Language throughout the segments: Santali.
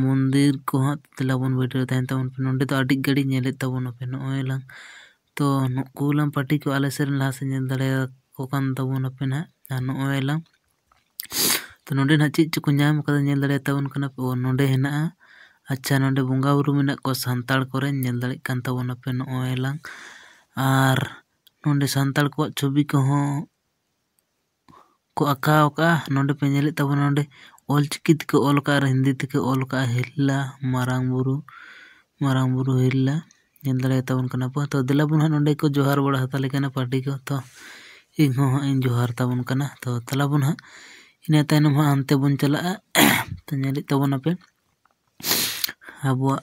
ᱢᱚᱱᱫᱤᱨ ᱠᱚ ᱦᱟᱸᱜ ᱫᱮᱞᱟ ᱵᱚᱱ ᱵᱷᱤᱰᱤᱭᱳ ᱨᱮ ᱛᱟᱦᱮᱱ ᱛᱟᱵᱚᱱ ᱯᱮ ᱱᱚᱰᱮ ᱫᱚ ᱟᱹᱰᱤ ᱜᱷᱟᱹᱲᱤᱡ ᱧᱮᱞᱮᱫ ᱛᱟᱵᱚᱱᱟᱯᱮ ᱱᱚᱜᱼᱚᱭ ᱞᱟᱝ ᱛᱚ ᱱᱩᱠᱩ ᱞᱟᱝ ᱯᱟᱹᱴᱤ ᱠᱚᱣᱟ ᱟᱞᱮ ᱥᱮᱫ ᱨᱮᱱ ᱞᱟᱦᱟ ᱥᱮᱫ ᱧᱮᱞ ᱫᱟᱲᱮᱭᱟᱠᱚ ᱠᱟᱱ ᱛᱟᱵᱚᱱᱟᱯᱮ ᱦᱟᱸᱜ ᱟᱨ ᱱᱚᱜᱼᱚᱭ ᱞᱟᱝ ᱛᱚ ᱱᱚᱰᱮ ᱦᱟᱸᱜ ᱪᱮᱫ ᱪᱚᱠᱚ ᱧᱟᱢ ᱠᱟᱫᱟ ᱧᱮᱞ ᱫᱟᱲᱮᱭᱟᱛᱟᱵᱚᱱ ᱠᱟᱱᱟ ᱯᱮ ᱚ ᱱᱚᱰᱮ ᱦᱮᱱᱟᱜᱼᱟ ᱟᱪᱪᱷᱟ ᱱᱚᱰᱮ ᱵᱚᱸᱜᱟᱼᱵᱩᱨᱩ ᱢᱮᱱᱟᱜ ᱠᱚᱣᱟ ᱥᱟᱱᱛᱟᱲ ᱠᱚᱨᱮᱱ ᱧᱮᱞ ᱫᱟᱲᱮᱭᱟᱜ ᱠᱟᱱ ᱛᱟᱵᱚᱱᱟᱯᱮ ᱱᱚᱜᱼᱚᱭ ᱞᱟᱝ ᱟᱨ ᱱᱚᱰᱮ ᱥᱟᱱᱛᱟᱲ ᱠᱚᱣᱟᱜ ᱪᱷᱚᱵᱤ ᱠᱚᱦᱚᱸ ᱠᱚ ᱟᱸᱠᱟᱣ ᱠᱟᱜᱼᱟ ᱱᱚᱰᱮ ᱯᱮ ᱧᱮᱞᱮᱫ ᱛᱟᱵᱚᱱᱟ ᱱᱚᱰᱮ ᱚᱞ ᱪᱤᱠᱤ ᱛᱮᱠᱚ ᱚᱞ ᱠᱟᱜᱼᱟ ᱟᱨ ᱦᱤᱱᱫᱤ ᱛᱮᱠᱚ ᱚᱞ ᱠᱟᱜᱼᱟ ᱦᱤᱨᱞᱟ ᱢᱟᱨᱟᱝ ᱵᱩᱨᱩ ᱢᱟᱨᱟᱝ ᱵᱩᱨᱩ ᱦᱤᱨᱞᱟ ᱧᱮᱞ ᱫᱟᱲᱮᱭᱟ ᱛᱟᱵᱚᱱ ᱠᱟᱱᱟ ᱯᱮ ᱛᱚ ᱫᱮᱞᱟ ᱵᱚᱱ ᱦᱟᱸᱜ ᱱᱚᱰᱮ ᱠᱚ ᱡᱚᱦᱟᱨ ᱵᱟᱲᱟ ᱦᱟᱛᱟᱲᱮ ᱠᱟᱱᱟ ᱯᱟᱨᱴᱤ ᱠᱚ ᱛᱚ ᱤᱧ ᱦᱚᱸ ᱦᱟᱸᱜ ᱤᱧ ᱡᱚᱦᱟᱨ ᱛᱟᱵᱚᱱ ᱠᱟᱱᱟ ᱛᱚ ᱫᱮᱞᱟ ᱵᱚᱱ ᱦᱟᱸᱜ ᱤᱱᱟᱹ ᱛᱟᱭᱱᱚᱢ ᱦᱟᱸᱜ ᱦᱟᱱᱛᱮ ᱵᱚᱱ ᱪᱟᱞᱟᱜᱼᱟ ᱛᱚ ᱧᱮᱞᱮᱫ ᱛᱟᱵᱚᱱᱟᱯᱮ ᱟᱵᱚᱣᱟᱜ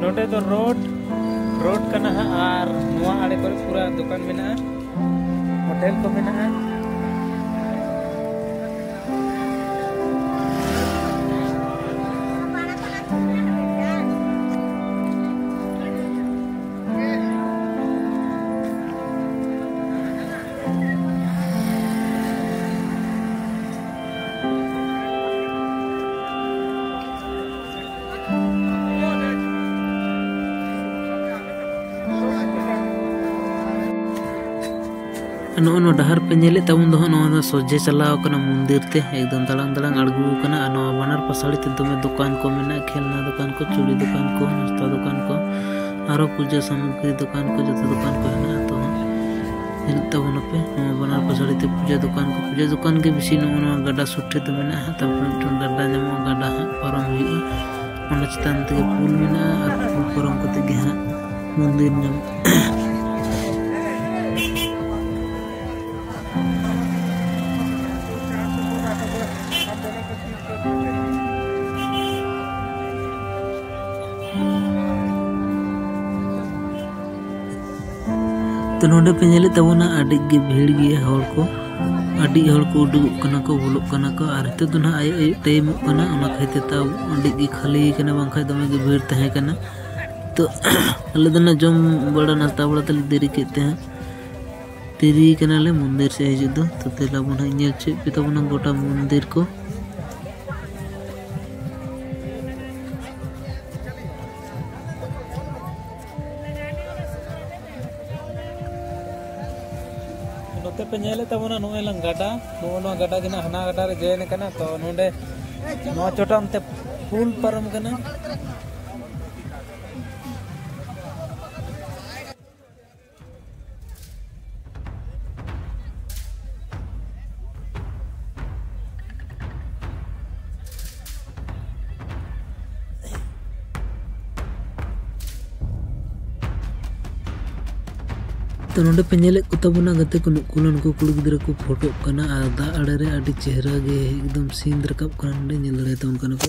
ᱱᱚᱰᱮ ᱫᱚ ᱨᱳᱰ ᱨᱳᱰ ᱠᱟᱱᱟ ᱦᱟᱸᱜ ᱟᱨ ᱱᱚᱣᱟ ᱟᱲᱮ ᱠᱚᱨᱮ ᱯᱩᱨᱟᱹ ᱫᱚᱠᱟᱱ ᱢᱮᱱᱟᱜᱼᱟ ᱦᱳᱴᱮᱞ ᱠᱚ ᱢᱮᱱᱟᱜᱼᱟ ᱱᱚᱜᱼᱚ ᱱᱚᱣᱟ ᱰᱟᱦᱟᱨ ᱯᱮ ᱧᱮᱞᱮᱫ ᱛᱟᱵᱚᱱ ᱫᱚ ᱱᱚᱣᱟ ᱫᱚ ᱥᱚᱡᱷᱮ ᱪᱟᱞᱟᱣ ᱠᱟᱱᱟ ᱢᱚᱱᱫᱤᱨ ᱛᱮ ᱮᱠᱫᱚᱢ ᱫᱟᱲᱟᱝ ᱫᱟᱲᱟᱝ ᱟᱬᱜᱚ ᱠᱟᱱᱟ ᱟᱨ ᱱᱚᱣᱟ ᱵᱟᱱᱟᱨ ᱯᱟᱥᱟᱲᱤ ᱛᱮ ᱫᱚᱢᱮ ᱫᱚᱠᱟᱱ ᱠᱚ ᱢᱮᱱᱟᱜᱼᱟ ᱠᱷᱮᱞᱱᱟ ᱫᱚᱠᱟᱱ ᱠᱚ ᱪᱩᱲᱤ ᱫᱚᱠᱟᱱ ᱠᱚ ᱱᱟᱥᱛᱟ ᱫᱚᱠᱟᱱ ᱠᱚ ᱟᱨᱚ ᱯᱩᱡᱟᱹ ᱥᱟᱢᱚᱜᱨᱤ ᱫᱚᱠᱟᱱ ᱠᱚ ᱡᱚᱛᱚ ᱫᱚᱠᱟᱱ ᱠᱚ ᱦᱮᱱᱟᱜᱼᱟ ᱢᱮᱱᱟᱜ ᱛᱟᱵᱚᱱᱟ ᱯᱮ ᱱᱚᱣᱟ ᱵᱟᱱᱟᱨ ᱯᱟᱥᱟᱲᱤ ᱛᱮ ᱯᱩᱡᱟᱹ ᱫᱚᱠᱟᱱ ᱠᱚ ᱯᱩᱡᱟᱹ ᱫᱚᱠᱟᱱ ᱜᱮ ᱵᱮᱥᱤ ᱱᱚᱜᱼᱚ ᱱᱚᱣᱟ ᱜᱟᱰᱟ ᱥᱩᱨ ᱴᱷᱮᱱ ᱫᱚ ᱢᱮᱱᱟᱜᱼᱟ ᱛᱟᱨᱯᱚᱨᱮ ᱢᱤᱫᱴᱟᱝ ᱜᱟᱰᱟ ᱧᱟᱢᱚᱜᱼᱟ ᱜᱟᱰᱟ ᱦᱟᱸᱜ ᱯᱟᱨᱚᱢ ᱦᱩᱭᱩᱜᱼᱟ ᱚᱱᱟ ᱪᱮᱛᱟᱱ ᱛᱮᱜᱮ ᱯᱩᱞ ᱢᱮᱱᱟᱜᱼᱟ ᱟᱨ ᱯᱩᱞ ᱯᱟᱨᱚᱢ ᱠᱟᱛᱮ ᱜᱮ ᱦᱟᱸᱜ ᱢᱚᱱᱫᱤᱨ ᱧᱟᱢᱚᱜᱼᱟ ᱛᱚ ᱱᱚᱰᱮ ᱯᱮ ᱧᱮᱞᱮᱫ ᱛᱟᱵᱚᱱᱟ ᱟᱹᱰᱤ ᱜᱮ ᱵᱷᱤᱲ ᱜᱮᱭᱟ ᱦᱚᱲ ᱠᱚ ᱟᱹᱰᱤ ᱦᱚᱲ ᱠᱚ ᱩᱰᱩᱠᱚᱜ ᱠᱟᱱᱟ ᱠᱚ ᱵᱚᱞᱚᱜ ᱠᱟᱱᱟ ᱠᱚ ᱟᱨ ᱱᱤᱛᱚᱜ ᱫᱚ ᱱᱟᱦᱟᱜ ᱟᱭᱩᱵ ᱟᱭᱩᱵ ᱴᱟᱭᱤᱢᱚᱜ ᱠᱟᱱᱟ ᱚᱱᱟ ᱠᱷᱟᱹᱛᱤᱨ ᱛᱟᱣ ᱟᱹᱰᱤ ᱜᱮ ᱠᱷᱟᱹᱞᱤ ᱠᱟᱱᱟ ᱵᱟᱝᱠᱷᱟᱡ ᱫᱚᱢᱮ ᱜᱮ ᱵᱷᱤᱲ ᱛᱟᱦᱮᱸ ᱠᱟᱱᱟ ᱛᱚ ᱟᱞᱮ ᱫᱚ ᱱᱟᱦᱟᱜ ᱡᱚᱢ ᱵᱟᱲᱟ ᱱᱟᱥᱛᱟ ᱵᱟᱲᱟ ᱛᱮᱞᱮ ᱫᱮᱨᱤ ᱠᱮᱫ ᱛᱮ ᱦᱟᱸᱜ ᱫᱮᱨᱤ ᱠᱟᱱᱟᱞᱮ ᱢᱚᱱᱫᱤᱨ ᱥᱮᱫ ᱦᱤᱡᱩᱜ ᱫᱚ ᱛᱚ ᱫᱮᱞᱟ ᱵᱚᱱ ᱦᱟᱸᱜ ᱧᱮᱞ ᱪᱮᱫ ᱯᱮ ᱛᱟᱵᱚᱱᱟ ᱜᱚᱴᱟ ᱢᱚᱱᱫᱤᱨ ᱠᱚ ᱱᱚᱛᱮ ᱯᱮ ᱧᱮᱞᱮᱫ ᱛᱟᱵᱚᱱᱟ ᱱᱚᱜᱼᱚᱭ ᱞᱟᱝ ᱜᱟᱰᱟ ᱱᱚᱜᱼᱚ ᱱᱚᱣᱟ ᱜᱟᱰᱟ ᱜᱮ ᱦᱟᱱᱟ ᱜᱟᱰᱟ ᱨᱮ ᱡᱚᱭᱮᱱ ᱠᱟᱱᱟ ᱛᱚ ᱱᱚᱰᱮ ᱱᱚᱣᱟ ᱪᱚᱴᱟᱢ ᱛᱮ ᱯᱩᱞ ᱯᱟᱨᱚᱢ ᱠᱟᱱᱟ ᱛᱚ ᱱᱚᱰᱮ ᱯᱮ ᱧᱮᱞᱮᱫ ᱠᱚ ᱛᱟᱵᱚᱱᱟ ᱜᱟᱛᱮ ᱠᱚ ᱱᱩᱠᱩ ᱱᱩᱠᱩ ᱠᱩᱲᱤ ᱜᱤᱫᱽᱨᱟᱹ ᱠᱚ ᱯᱷᱳᱴᱳᱜ ᱠᱟᱱᱟ ᱟᱨ ᱫᱟᱜ ᱟᱲᱮ ᱨᱮ ᱟᱹᱰᱤ ᱪᱮᱦᱨᱟ ᱜᱮ ᱮᱠᱫᱚᱢ ᱥᱤᱱ ᱨᱟᱠᱟᱵ ᱠᱟᱱᱟ ᱱᱚᱰᱮ ᱧᱮᱞ ᱫᱟᱲᱮᱭᱟᱛᱟᱵᱚᱱ ᱠᱟᱱᱟ ᱯᱮ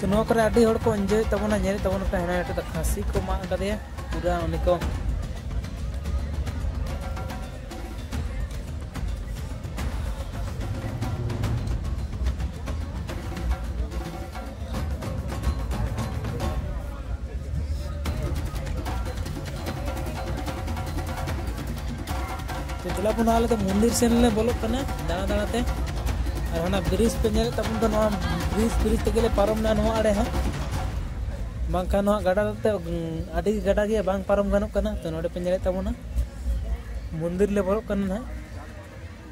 ᱛᱚ ᱱᱚᱣᱟ ᱠᱚᱨᱮ ᱟᱹᱰᱤ ᱦᱚᱲ ᱠᱚ ᱮᱱᱡᱚᱭ ᱛᱟᱵᱚᱱᱟ ᱧᱮᱞ ᱛᱟᱵᱚᱱᱟ ᱯᱮ ᱦᱮᱲᱟ ᱦᱮᱴᱮ ᱠᱷᱟᱹᱥᱤ ᱠᱚ ᱢᱟᱜ ᱠᱟᱫᱮᱭᱟ ᱯᱩᱨᱟ ᱩᱱᱤ ᱠᱚ ᱪᱟᱞᱟᱜ ᱵᱚᱱ ᱟᱞᱮ ᱫᱚ ᱢᱚᱱᱫᱤᱨ ᱥᱮᱱ ᱞᱮ ᱵᱚᱞᱚᱜ ᱠᱟᱱᱟ ᱫᱟᱬᱟ ᱫᱟᱬᱟ ᱛᱮ ᱟᱨ ᱚᱱᱟ ᱵᱨᱤᱡᱽ ᱯᱮ ᱧᱮᱞᱮᱫ ᱛᱟᱵᱚᱱ ᱫᱚ ᱱᱚᱣᱟ ᱵᱨᱤᱡᱽ ᱵᱨᱤᱡᱽ ᱛᱮᱜᱮ ᱞᱮ ᱯᱟᱨᱚᱢᱱᱟ ᱱᱚᱣᱟ ᱟᱲᱮ ᱦᱚᱸ ᱵᱟᱝᱠᱷᱟᱱ ᱱᱚᱣᱟ ᱜᱟᱰᱟ ᱛᱮ ᱟᱹᱰᱤ ᱜᱟᱰᱟ ᱜᱮ ᱵᱟᱝ ᱯᱟᱨᱚᱢ ᱜᱟᱱᱚᱜ ᱠᱟᱱᱟ ᱛᱚ ᱱᱚᱰᱮ ᱯᱮ ᱧᱮᱞᱮᱫ ᱛᱟᱵᱚᱱᱟ ᱢᱚᱱᱫᱤᱨ ᱞᱮ ᱵᱚᱞᱚᱜ ᱠᱟᱱᱟ ᱱᱟᱦᱟᱜ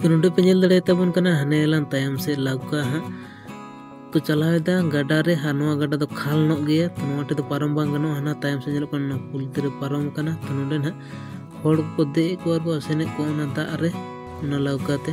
ᱛᱚ ᱱᱚᱰᱮ ᱯᱮ ᱧᱮᱞ ᱫᱟᱲᱮᱭᱟᱛᱟᱵᱚᱱ ᱠᱟᱱᱟ ᱦᱟᱱᱮ ᱞᱟᱝ ᱛᱟᱭᱚᱢ ᱥᱮᱫ ᱞᱟᱣᱠᱟ ᱦᱟᱸᱜ ᱠᱚ ᱪᱟᱞᱟᱣᱮᱫᱟ ᱜᱟᱰᱟ ᱨᱮ ᱟᱨ ᱱᱚᱣᱟ ᱜᱟᱰᱟ ᱫᱚ ᱠᱷᱟᱞ ᱧᱚᱜ ᱜᱮᱭᱟ ᱛᱚ ᱱᱚᱣᱟ ᱴᱷᱮᱱ ᱫᱚ ᱯᱟᱨᱚᱢ ᱵᱟᱝ ᱜᱟᱱᱚᱜᱼᱟ ᱦᱟᱱᱟ ᱛᱟᱭᱚᱢ ᱥᱮᱫ ᱧᱮᱞᱚᱜ ᱠᱟᱱᱟ ᱯᱩᱞ ᱛᱮᱨᱮ ᱯᱟᱨᱚᱢ ᱠᱟᱱᱟ ᱛᱚ ᱱᱚᱰᱮ ᱱᱟᱦᱟᱜ ᱦᱚᱲ ᱠᱚ ᱫᱮᱡ ᱠᱚᱣᱟ ᱠᱚ ᱟᱥᱮᱱᱮᱫ ᱠᱚᱣᱟ ᱚᱱᱟ ᱫᱟᱜ ᱨᱮ ᱚᱱᱟ ᱞᱟᱣᱠᱟ ᱛᱮ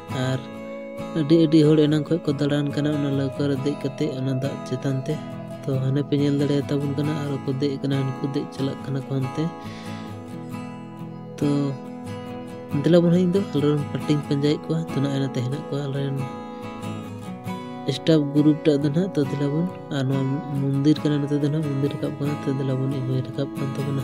ᱟᱨ ᱟᱹᱰᱤ ᱟᱹᱰᱤ ᱦᱚᱲ ᱮᱱᱟᱝ ᱠᱷᱚᱱ ᱠᱚ ᱫᱟᱬᱟᱱ ᱠᱟᱱᱟ ᱚᱱᱟ ᱞᱟᱹᱣᱠᱟᱹ ᱨᱮ ᱫᱮᱡ ᱠᱟᱛᱮ ᱚᱱᱟ ᱫᱟᱜ ᱪᱮᱛᱟᱱ ᱛᱮ ᱛᱚ ᱦᱟᱱᱮ ᱯᱮ ᱧᱮᱞ ᱫᱟᱲᱮᱭᱟ ᱛᱟᱵᱚᱱ ᱠᱟᱱᱟ ᱟᱨ ᱠᱚ ᱫᱮᱡ ᱠᱟᱱᱟ ᱩᱱᱠᱩ ᱫᱮᱡ ᱪᱟᱞᱟᱜ ᱠᱟᱱᱟ ᱠᱚ ᱦᱟᱱᱛᱮ ᱛᱚ ᱫᱮᱞᱟ ᱵᱚᱱ ᱤᱧ ᱫᱚ ᱟᱞᱮ ᱨᱮᱱ ᱯᱟᱴᱤᱧ ᱯᱟᱸᱡᱟᱭᱮᱫ ᱠᱚᱣᱟ ᱛᱚ ᱱᱚᱜᱼᱚᱭ ᱱᱟᱛᱮ ᱦᱮᱱᱟᱜ ᱠᱚᱣᱟ ᱟᱞᱮ ᱨᱮᱱ ᱥᱴᱟᱯ ᱜᱨᱩᱯ ᱴᱟᱜ ᱫᱚ ᱱᱟᱦᱟᱜ ᱛᱚ ᱫᱮᱞᱟ ᱵᱚᱱ ᱟᱨ ᱱᱚᱣᱟ ᱢᱚᱱᱫᱤᱨ ᱠᱟᱱᱟ ᱱᱚᱛᱮ ᱫᱚ ᱱᱟᱦᱟᱜ ᱢᱚᱱᱫᱤᱨ ᱨᱟᱠᱟᱵ ᱠᱟᱱᱟ ᱛᱚ ᱫᱮᱞᱟ ᱵᱚᱱ ᱤᱧ ᱦᱚᱸᱭ ᱨᱟᱠᱟᱵ ᱠᱟᱱ ᱛᱟᱵᱚᱱᱟ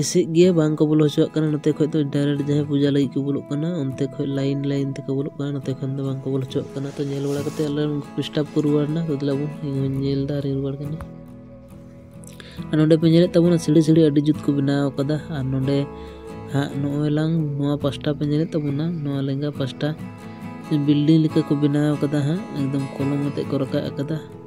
ᱮᱥᱮᱫ ᱜᱮᱭᱟ ᱵᱟᱝ ᱠᱚ ᱵᱚᱞᱚ ᱦᱚᱪᱚᱣᱟᱜ ᱠᱟᱱᱟ ᱱᱚᱛᱮ ᱠᱷᱚᱱ ᱫᱚ ᱰᱟᱭᱨᱮᱠᱴ ᱡᱟᱦᱟᱸᱭ ᱯᱩᱡᱟ ᱞᱟᱹᱜᱤᱫ ᱠᱚ ᱵᱚᱞᱚᱜ ᱠᱟᱱᱟ ᱚᱱᱛᱮ ᱠᱷᱚᱱ ᱞᱟᱭᱤᱱ ᱞᱟᱭᱤᱱ ᱛᱮᱠᱚ ᱵᱚᱞᱚᱜ ᱠᱟᱱᱟ ᱱᱚᱛᱮ ᱠᱷᱚᱱ ᱫᱚ ᱵᱟᱝ ᱠᱚ ᱵᱚᱞᱚ ᱦᱚᱪᱚᱣᱟᱜ ᱠᱟᱱᱟ ᱛᱚ ᱧᱮᱞ ᱵᱟᱲᱟ ᱠᱟᱛᱮ ᱟᱞᱮ ᱩᱱᱠᱩ ᱰᱤᱥᱴᱟᱵᱽ ᱠᱚ ᱨᱩᱣᱟᱹᱲ ᱮᱱᱟ ᱛᱚ ᱫᱮᱞᱟ ᱵᱚᱱ ᱤᱧ ᱦᱚᱸᱧ ᱧᱮᱞ ᱮᱫᱟ ᱟᱨᱤᱧ ᱨᱩᱣᱟᱹᱲ ᱠᱟᱱᱟ ᱟᱨ ᱱᱚᱰᱮ ᱯᱮ ᱧᱮᱞᱮᱫ ᱛᱟᱵᱚᱱᱟ ᱥᱤᱲᱤ ᱥᱤᱲᱤ ᱟᱹᱰᱤ ᱡᱩᱛ ᱠᱚ ᱵᱮᱱᱟᱣ ᱟᱠᱟᱫᱟ ᱟᱨ ᱱᱚᱰᱮ ᱦᱟᱸᱜ ᱱᱚᱜᱼᱚᱭ ᱞᱟᱝ ᱱᱚᱣᱟ ᱯᱟᱥᱴᱟ ᱯᱮ ᱧᱮᱞᱮᱫ ᱛᱟᱵᱚᱱᱟ ᱱᱚᱣᱟ ᱞᱮᱸᱜᱟ ᱯᱟᱥᱴᱟ ᱵᱤᱞᱰᱤᱝ ᱞᱮᱠᱟ ᱠᱚ ᱵᱮᱱᱟᱣ ᱟᱠᱟᱫᱟ ᱦᱟᱸᱜ ᱮᱠᱫᱚᱢ ᱠᱚᱞᱚᱢ ᱟᱛᱮᱫ ᱠᱚ ᱨᱟᱠᱟᱵ ᱟᱠᱟᱫᱟ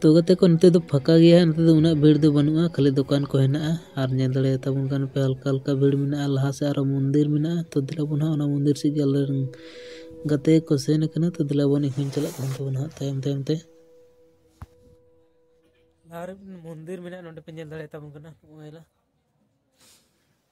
ᱛᱚ ᱜᱟᱛᱮ ᱠᱚ ᱱᱤᱛᱚᱜ ᱫᱚ ᱯᱷᱟᱸᱠᱟ ᱜᱮᱭᱟ ᱱᱤᱛᱚᱜ ᱫᱚ ᱩᱱᱟᱹᱜ ᱵᱷᱤᱲ ᱫᱚ ᱵᱟᱹᱱᱩᱜᱼᱟ ᱠᱷᱟᱹᱞᱤ ᱫᱚᱠᱟᱱ ᱠᱚ ᱦᱮᱱᱟᱜᱼᱟ ᱟᱨ ᱧᱮᱞ ᱫᱟᱲᱮᱭᱟ ᱛᱟᱵᱚᱱ ᱠᱟᱱ ᱯᱮ ᱦᱟᱞᱠᱟ ᱦᱟᱞᱠᱟ ᱵᱷᱤᱲ ᱢᱮᱱᱟᱜᱼᱟ ᱞᱟᱦᱟ ᱥᱮᱫ ᱟᱨᱚ ᱢᱚᱱᱫᱤᱨ ᱢᱮᱱᱟᱜᱼᱟ ᱛᱚ ᱫᱮᱞᱟ ᱵᱚᱱ ᱦᱟᱸᱜ ᱚᱱᱟ ᱢᱚᱱᱫᱤᱨ ᱥᱮᱫ ᱜᱮ ᱟᱞᱮ ᱨᱮᱱ ᱜᱟᱛᱮ ᱠᱚ ᱥᱮᱱ ᱠᱟᱱᱟ ᱛᱚ ᱫᱮᱞᱟ ᱵᱚᱱ ᱤᱧ ᱦᱚᱸᱧ ᱪᱟᱞᱟᱜ ᱠᱟᱱ ᱛᱟᱵᱚᱱᱟ ᱦᱟᱸᱜ ᱛᱟᱭᱚᱢ ᱛᱟᱭᱚᱢ ᱛᱮ ᱟᱨ ᱢᱚᱱᱫᱤᱨ ᱢᱮᱱᱟᱜᱼᱟ ᱱᱚᱰᱮ ᱯᱮ ᱧᱮᱞ ᱫᱟᱲᱮᱭᱟ ᱛᱟᱵᱚᱱ ᱠᱟᱱᱟ ᱱᱚᱜᱼᱚᱭ ᱞᱟ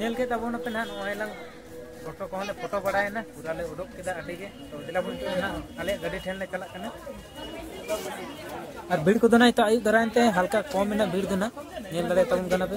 ᱧᱮᱞ ᱠᱮᱫ ᱛᱟᱵᱚᱱ ᱟᱯᱮ ᱱᱟᱦᱟᱜ ᱱᱚᱜᱼᱚᱭ ᱞᱟᱝ ᱯᱷᱳᱴᱳ ᱠᱚᱦᱚᱸ ᱞᱮ ᱯᱷᱳᱴᱳ ᱵᱟᱲᱟᱭᱮᱱᱟ ᱯᱩᱨᱟ ᱞᱮ ᱩᱰᱩᱠ ᱠᱮᱫᱟ ᱟᱹᱰᱤ ᱜᱮ ᱛᱚ ᱫᱮᱞᱟ ᱵᱚᱱ ᱱᱤᱛᱚᱜ ᱱᱟᱦᱟᱜ ᱟᱞᱮᱭᱟᱜ ᱜᱟᱹᱰᱤ ᱴᱷᱮᱱ ᱞᱮ ᱪᱟᱞᱟᱜ ᱠᱟᱱᱟ ᱟᱨ ᱵᱷᱤᱲ ᱠᱚᱫᱚ ᱱᱟᱦᱟᱜ ᱱᱤᱛᱚᱜ ᱟᱹᱭᱩᱵ ᱫᱟᱨᱟᱭᱮᱱ ᱛᱮ ᱦᱟᱞᱠᱟ ᱠᱚᱢ ᱮᱱᱟ ᱵᱷᱤᱲ ᱫᱚ ᱱᱟᱦᱟᱜ ᱧᱮᱞ ᱫᱟᱲᱮᱭᱟᱜ ᱛᱟᱵᱚᱱ ᱠᱟᱱᱟ ᱯᱮ